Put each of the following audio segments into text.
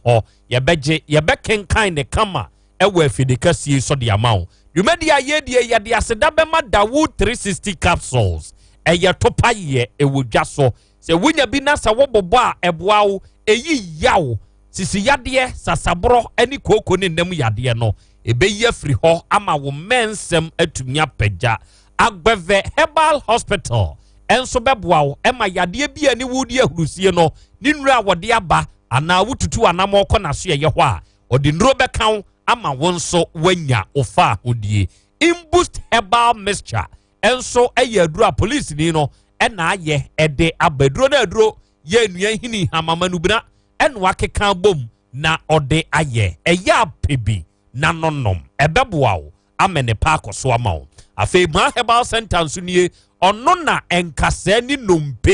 hɔ yɛbɛgye yɛbɛkenkan ne kama ɛwɔ afidekɛseɛ so de ama wo dwumadi a yɛdie yɛde aseda bɛma dawo 360 capsules ɛyɛ topa yɛ ɛwɔ dwa so sɛ wonya bi na sɛ wobobɔ a ɛboa wo ɛyi yaw sisi yadeɛ sasaborɔ ne kooko ne nnam yadeɛ no ɛbɛyi afiri hɔ ama wo mmɛnsɛm atumi apagya Agbɛvɛ Herbal Hospital nso bɛboa wo ma yadeɛ bi a ne wodi ahurusie no ne nnuro a wɔde aba anaa wotutu anammɔn kɔ n'asoɛeɛ hɔ a, ɔde nnuro bɛka wo ama wo nso woanya wo faahodie. Imboost Herbal Mixture nso yɛ aduro a polisini no na ayɛ de aba. Aduro no aduro yɛ nnua nhini hamamanubena ɛna wakeka bom na ɔde ayɛ. Ɛyɛ apɛ bi na nonom. Ɛbɛboa wo amene pa akɔ so ama wo afei maa herbal center nso nie ɔno na nkasɛɛ ne nnompe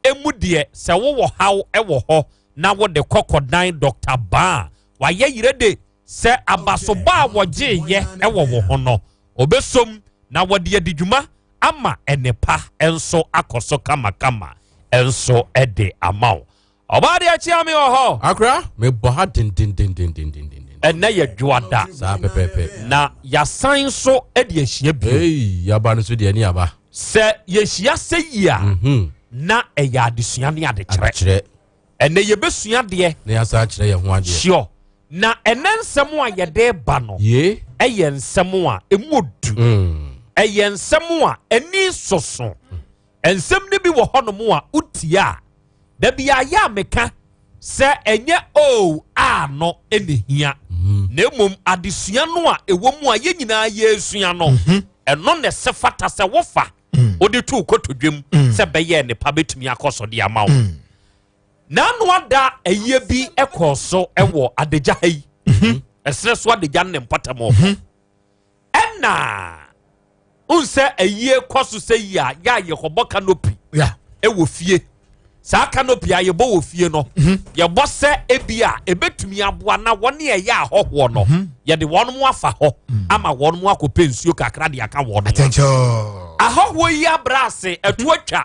emu deɛ sɛ wowɔ haw wɔ hɔ na wode kɔkɔdan dɔkta baa a wayɛ yerɛ de sɛ abasobɔ a wɔgyeeyɛ wɔ wo ho no obesom na wɔde adi dwuma ama ɛnepa nso akɔ so kamakama nso de ama wo Ɔbaa deɛ akyia me wɔ hɔ. Akora mebɔ ha dendendendendenden. Ɛnɛ yɛ dwoada. Saa pɛpɛpɛ. Na yasan nso de ahyia bio. Ei yaba no so deɛ ne yaba. Sɛ yɛhyia sɛ yi a. Mhm. Na ɛyɛ adesua ne adekyerɛ. Adekyerɛ. Ɛnɛ yɛbɛsua deɛ. Na yasan akyerɛ yɛn ho adeɛ. Sure. Na ɛnɛ nsɛm a yɛde ba no. Yee. Ɛyɛ nsɛm a ɛmu odu. Mm. Ɛyɛ nsɛm a ani soso. Nsɛm no bi wɔ hɔnom a wotie a, da biara ɛyɛ a meka sɛ ɛnyɛ oo a no na ehia, na mmom adesua no a ɛwɔ mu a yɛn nyinaa yɛresua no, ɛno na ɛsɛ fata sɛ wofa wode to wo kotodwam sɛ bɛyɛ nnepa bɛtumi akɔ so de ama wo. Na ano ada ayie bi kɔɔ so wɔ adagya ha yi, ɛserɛ so adagya no ne mpɔtam hɔ. Ɛna n sɛ ayie kɔ so sɛ yi a yɛ a yɛkɔbɔ canopy ɛwɔ fie saa canopy a yɛbɔ wɔ fie no mhm. yɛbɔ sɛ ebi a ɛbɛtumi aboa na wɔn ne ɛyɛ ahɔhoɔ no mhm. yɛde wɔn mo afa hɔ mhm. ama wɔn mo akɔpɛ nsuo kakra de aka wɔn ahɔhoɔ yi abrɛ ase ɛto atwa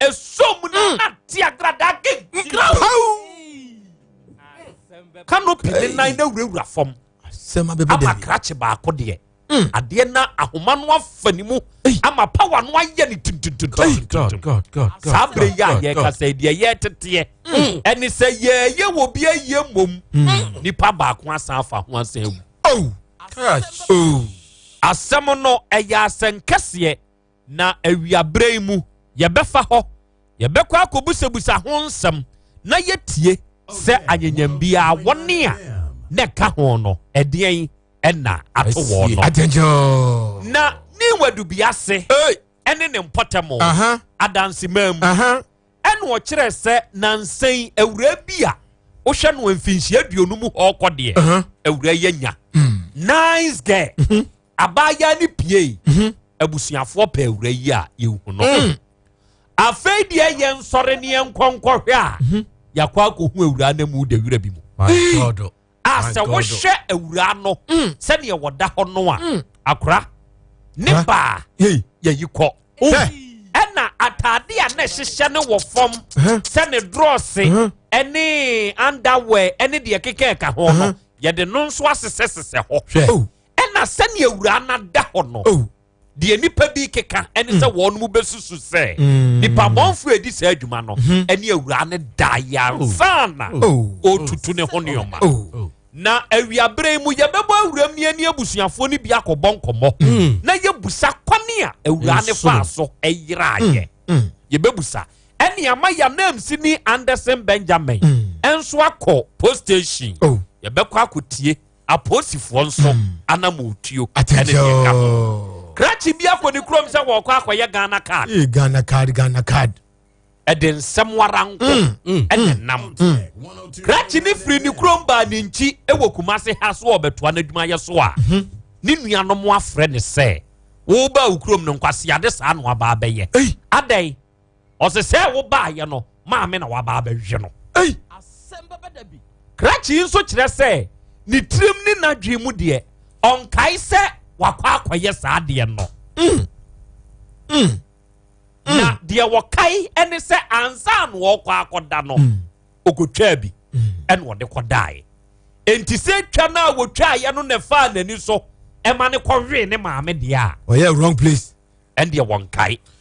Ɛsɔ mu na na te agradaa kenkira o. Canopy ne nan na wurawura fam. Ama krakye baako deɛ. Hmm. adeɛ na ahoma no afa ne mu ama power no ayɛ ne tuntuntuntuntuntum saa bere yɛ a yɛkasa yi deɛ yɛteteɛ hmm. ɛne sɛ yɛyɛ wɔ bi ayɛ mmom hmm. nipa baako asan afa ho asan awu oh. Oh. asɛm no ɛyɛ asɛnkɛseɛ Na awia berɛ yi mu yɛbɛfa hɔ, yɛbɛkɔ akɔbusabusa ho nsɛm na yɛatie sɛ anyanyam biara wɔne a na ɛka ho no ɛdeɛn ɛna ato wɔ no. Na ne wadubea ase ɛne ne mpɔtam adansemaa mu ɛna ɔkyerɛ sɛ nansɛn awura bi a wohwɛ no mfinhyia aduonu mu hɔ kɔ deɛ awura yɛ nya hmm. nice girl. Hmm. abaayaa no piei mhm. abusuafoɔ pɛ awura yi a yɛhu no mm. afei deɛ yɛ nsɔre ne yɛnkɔnkɔhwɛ a mhm. yɛakɔ akɔhu awura no mu da wura bi mu a sɛ wohwɛ awura no mm. sɛdeɛ wɔda hɔ no a akora ne baa yɛyi kɔ ɛna ataade a na ɛhyehyɛ no wɔ fam sɛ ne drɔse ɛne underwear ɛne deɛ keka ɛka ho no yɛde no nso asesɛsesɛ hɔ Ɛna sɛnea awuraa no ada hɔ no, oh. deɛ nnipa bi keka ɛne sɛ mm. wɔn mu bɛsusu sɛ mm. nipa mɔnfo edi saa adwuma no mm-hmm. ɛne awuraa no da yansana oh. oh. ɔtutu ne ho nneɛma oh. na awiabere mu yɛbɛbɔ awuram ni ɛne abusuafoɔ no bi akɔbɔ nkɔmmɔ mm. na yɛbusa kwane a awuraa no faa so ɛyeraayɛ yɛbɛbusa ɛne ama yanamsi ne anderson benjamin ɛnso akɔ post station yɛbɛkɔ akɔtie Aposifoɔ nso mm. anamotuo ɛne deɛ ka ho. Krakye bi akɔ ne kurom sɛ wɔkɔ akɔyɛ Ghana card. Ee Ghana card Ghana card. Ɛde nsɛm wara nko mm, mm, ɛne nam. Krakye ne firi ne kurom baa ne nkyi wɔ Kumase ha so ɔbɛtoa n'adwumayɛ so a. Mhm. Ne nuanom afrɛ ne sɛ woba wo kurom no nkwaseade saa no aba abɛyɛ. Adɛn? ɔse sɛ wobaayɛ no maame na waba abɛhwɛ no ei krakye nso kyerɛ sɛ ne tirim ne n'adwene mu deɛ ɔnkae sɛ wakɔ akɔyɛ saa deɛ no mm. Mm. Mm. na deɛ wɔkae ɛne sɛ ansa na ɔkɔ akɔda no ɔkɔtwaa bi ɛna ɔde kɔdaeɛ enti sɛ twa no a wɔtwaeɛ no na ɛfaa n'ani so ɛma ne kɔwee ne maame deɛ a ɔyɛ wrong place ɛndeɛ wɔnkae